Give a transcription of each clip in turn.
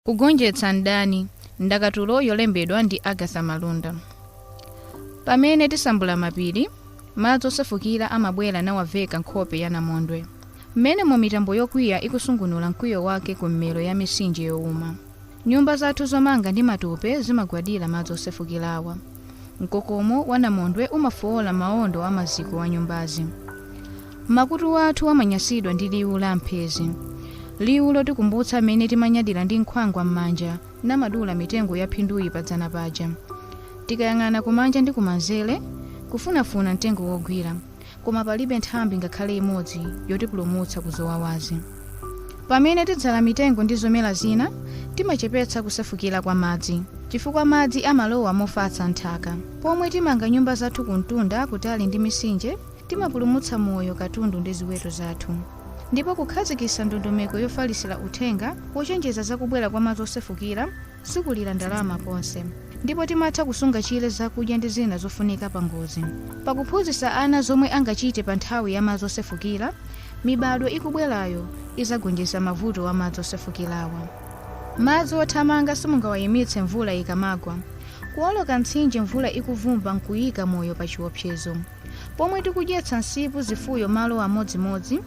Kugonjetsa Mdani, ndakatulo yolembedwa ndi Agatha Malunda. Pamene tisambula mapiri, madzi osefukira amabwera nawaveka nkhope ya namondwe. Mmenemo mitambo yokwiya ikusungunula mkwiyo wake ku mmero ya mitsinje youma. Nyumba zathu zomanga ndi matope zimagwadira madzi osefukirawa. Mkokomo wa namondwe umafoola maondo a maziko a nyumbazi. makutu athu amanyasidwa ndi liwu la mphezi liwu lotikumbutsa mmene timanyadira ndi nkhwangwa m'manja namadula mitengo ya phinduyi padzana paja tikayang'ana kumanja ndi kumanzere kufunafuna mtengo wogwira koma palibe nthambi ngakhale imodzi yotipulumutsa kuzowawazi pamene tidzala mitengo ndi zomera zina timachepetsa kusefukira kwa madzi chifukwa madzi amalowa mofatsa m'nthaka pomwe timanga nyumba zathu kumtunda kutali ndi mitsinje timapulumutsa moyo katundu ndi ziweto zathu ndipo kukhazikitsa ndondomeko yofalisira uthenga wochenjeza zakubwera kwa madzi osefukira sikulira ndalama konse ndipo timatha kusunga chire zakudya ndi zina zofunika pa ngozi pakuphunzitsa ana zomwe angachite pa nthawi ya madzi osefukira mibadwo ikubwerayo izagonjetsa mavuto a madzi osefukirawa madzi othamanga simungawayimitse mvula ikamagwa kuwoloka mtsinje mvula ikuvumba nkuyika moyo pa chiopsezo pomwe tikudyetsa msipu zifuyo malo amodzimodzi,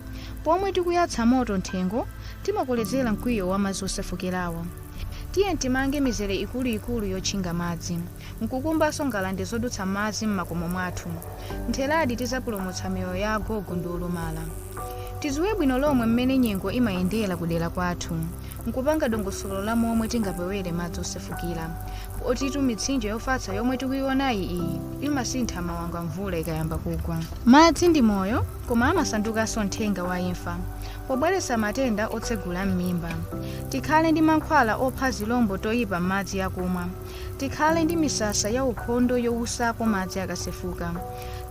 pomwe tikuyatsa moto m'thengo, timakolezera mkwiyo wa madzi osefukirawa. Tiye timange mizere ikuluikulu yotchinga madzi, nkukumbanso ngalande zodutsa madzi m'makomo mwathu. Mtheradi tizapulumutsa miyoyo ya agogo ndi olumala. Tidziwe bwino lomwe m'mene nyengo imayendera kudera kwathu. nkupanga dongosolo la momwe tingapewere madzi osefukira potitu mitsinje yofatsa yomwe tikuionayi iyi imasintha mawanga mvula ikayamba kugwa madzi ndi moyo koma amasandukanso mthenga wa imfa pobweretsa matenda otsegula m'mimba tikhale ndi mankhwala opha tizilombo toyipa m'madzi akumwa tikhale ndi misasa ya ukhondo yowusako madzi akasefuka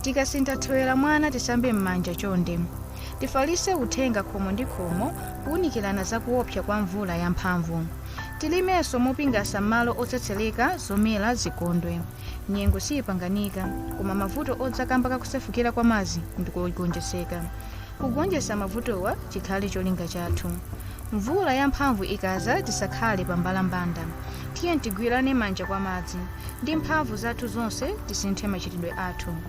tikasintha thewera mwana tisambe m'manja chonde Tifalitse uthenga khomo ndi khomo kuunikirana za kuopsa kwa mvula ya mphamvu. Tilimenso mopingasa m'malo otsetsereka, zomera zikondwe. Nyengo siipanganika, koma mavuto odza kamba ka kusefukira kwa madzi ndi kogonjetseka. Kugonjetsa mavutowa chikhale cholinga chathu. Mvula ya mphamvu ikadza tisakhale pa mbalambanda. Tiye tigwirane manja kwa madzi. Ndi mphamvu zathu zonse tisinthe machitidwe athu.